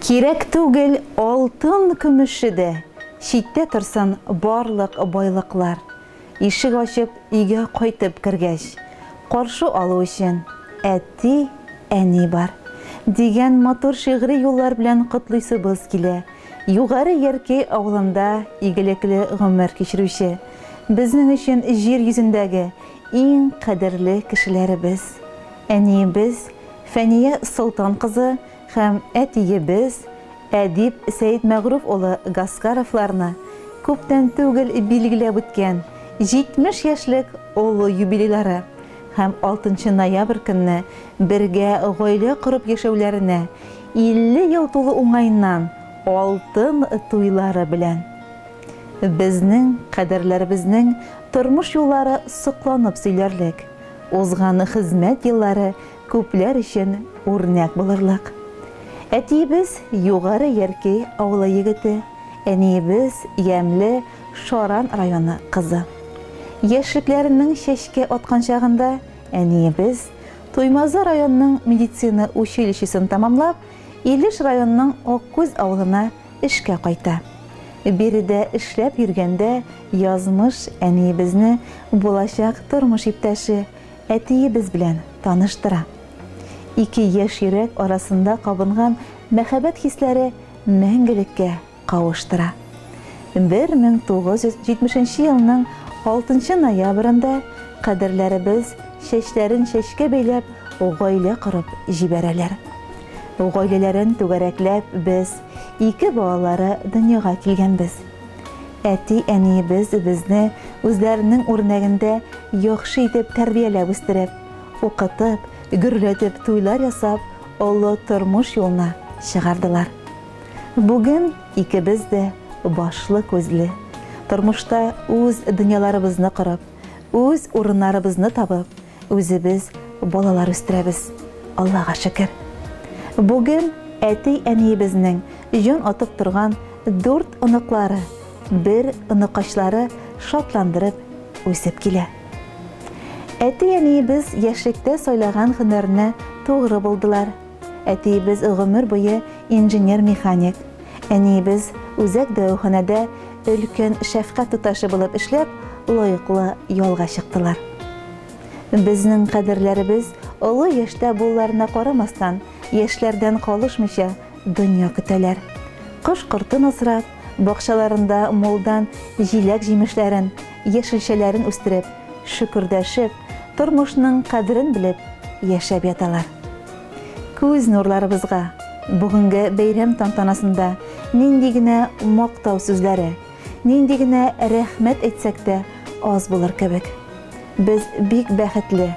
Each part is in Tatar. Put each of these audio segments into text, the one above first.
Кирәк түгел алтын көмеше дә, Читтә торсын барлык байлыклар. Ишек ачып өйгә кайтып кергәч, Каршы алу өчен әти, әни бар. Дигән матур шигъри юллар белән котлыйсыбыз килә Югары Яркәй авылында игелекле гомер кичерүче, безнең өчен җир йөзендәге иң кадерле кешеләребез, әниебез Фәния Солтан кызы һәм әтиебез Әдип Сәетмәгъруф улы Гаскаровларны күптән түгел билгеләп үткән 70 яшьлек олы юбилейлары һәм 6 ноябрь көнне бергә гаилә корып яшәүләренә 50 ел тулу уңаеннан алтын туйлары белән! Безнең кадерләребезнең тормыш юллары сокланып сөйләрлек, узган хезмәт еллары күпләр өчен үрнәк булырлык. Әтиебез Югары Яркәй авылы егете, әниебез Ямьле Шаран районы кызы. Яшьлекләренең чәчкә аткан чагында әниебез Туймазы районының медицина училищесын тәмамлап, Илеш районының Аккүз авылына эшкә кайта. Биредә эшләп йөргәндә язмыш әниебезне булачак тормыш иптәше, Әтиебез белән таныштыра. Ике яшь йөрәк арасында кабынган мәхәббәт хисләре мәңгелеккә кавыштыра. 1970 елның 6 ноябрендә кадерләребез чәчләрен чәчкә бәйләп гаилә корып җибәрәләр. Гаиләләрен түгәрәкләп без, ике балалары дөньяга килгәнбез. Әти-әниебез безне үзләренең үрнәгендә яхшы итеп тәрбияләп үстереп, укытып, гөрләтеп туйлар ясап, олы тормыш юлына чыгардылар. Бүген икебез дә башлы-күзле, тормышта үз дөньяларыбызны корып, үз урыннарыбызны табып, Үзебез балалар үстерәбез, Аллага шөкер. Бүген әти-әниебезнең җан атып торган дүрт оныклары, бер оныкачлары шатландырып үсеп килә. Әти-әниебез яшьлектә сайлаган һөнәрне тугры булдылар. Әтиебез гомер буе инженер-механик, әниебез үзәк дәваханәдә өлкән шәфкать туташы булып эшләп, лаеклы ялга чыктылар. Безнең кадерләребез олы яшьтә булуларына карамастан, яшьләрдән калышмыйча дөнья көтәләр. Кош-кортын асрап, бакчаларында мулдан җиләк-җимешләрен, яшелчәләрен үстереп, шөкердәшеп, тормышның кадерен белеп яшәп яталар. Күз нурларыбызга, бүгенге бәйрәм тантанасында нинди генә мактау сүзләре, нинди генә рәхмәт әйтсәк тә аз булыр кебек. Без бик бәхетле,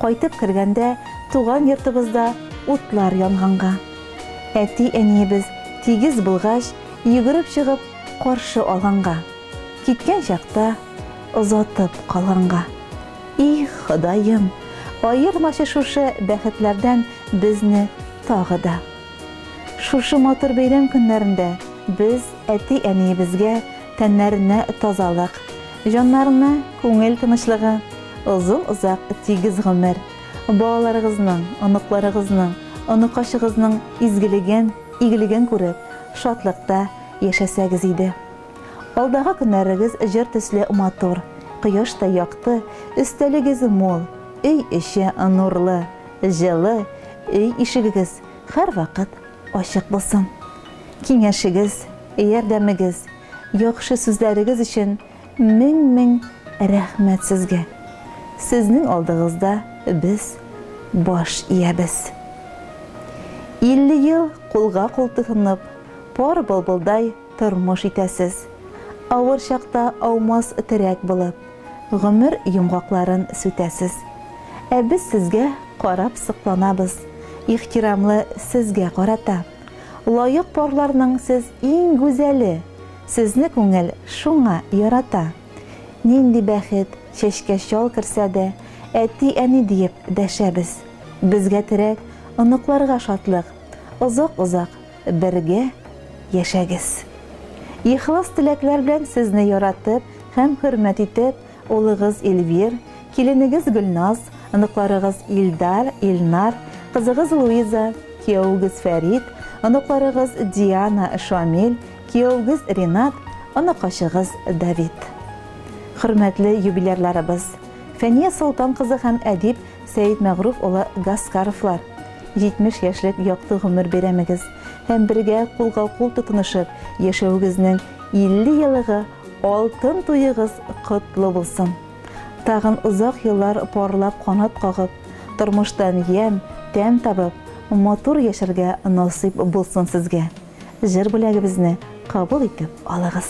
кайтып кергәндә туган йортыбызда утлар янганга. Әти-әниебез тигез булгач, йөгереп чыгып каршы алганга. Киткән чакта озатып калганга. Их, Ходаем, аермачы шушы бәхетләрдән безне тагы да. Шушы матур бәйрәм көннәрендә без әти-әниебезгә тәннәренә тазалык, җаннарына күңел тынычлыгы, озын-озак тигез гомер, балаларыгызның, оныкларыгызның, оныкачыгызның изгелеген, игелеген күреп, шатлыкта яшәсәгез иде. Алдагы көннәрегез җыр төсле матур, кояштай якты, өстәлегез мул, өй эче нурлы, җылы, өй ишегегез һәрвакыт ачык булсын. Киңәшегез, ярдәмегез, яхшы сүзләрегез өчен мең-мең рәхмәт сезгә! Сезнең алдыгызда без баш иябез. 50 ел кулга-кул тотынып, пар былбылдай тормыш итәсез. Авыр чакта аумас терәк булып, гомер йомгакларын сүтәсез. Ә без сезгә карап сокланабыз, ихтирамлы сезгә карата. Лаек парларның сез иң гүзәле, сезне күңел шуңа ярата. Нинди бәхет, чәчкә чал керсә дә, әти-әни диеп дәшәбез. Безгә терәк, оныкларга шатлык, озак-озак Бергә яшәгез! Ихлас теләкләр белән сезне яратып һәм хөрмәт итеп, улыгыз Эльвир, киленегез Гөлназ, оныкларыгыз Илдар, Илнар, кызыгыз Луиза, киявегез Фәрит, оныкларыгыз Диана, Шамил, киявегез Ринат, оныкачыгыз Давид. Хөрмәтле юбилярларыбыз, Фәния Солтан кызы һәм әдип Сәетмәгъруф улы Гаскаровлар, 70 яшьлек якты гомер бәйрәмегез һәм бергә кулга-кул тотынышып яшәвегезнең 50 елыгы алтын туегыз котлы булсын! Тагын озак еллар парлап канат кагып, тормыштан ямь, тәм табып, матур яшәргә насыйп булсын сезгә! Җыр бүләгебезне кабул итеп алыгыз!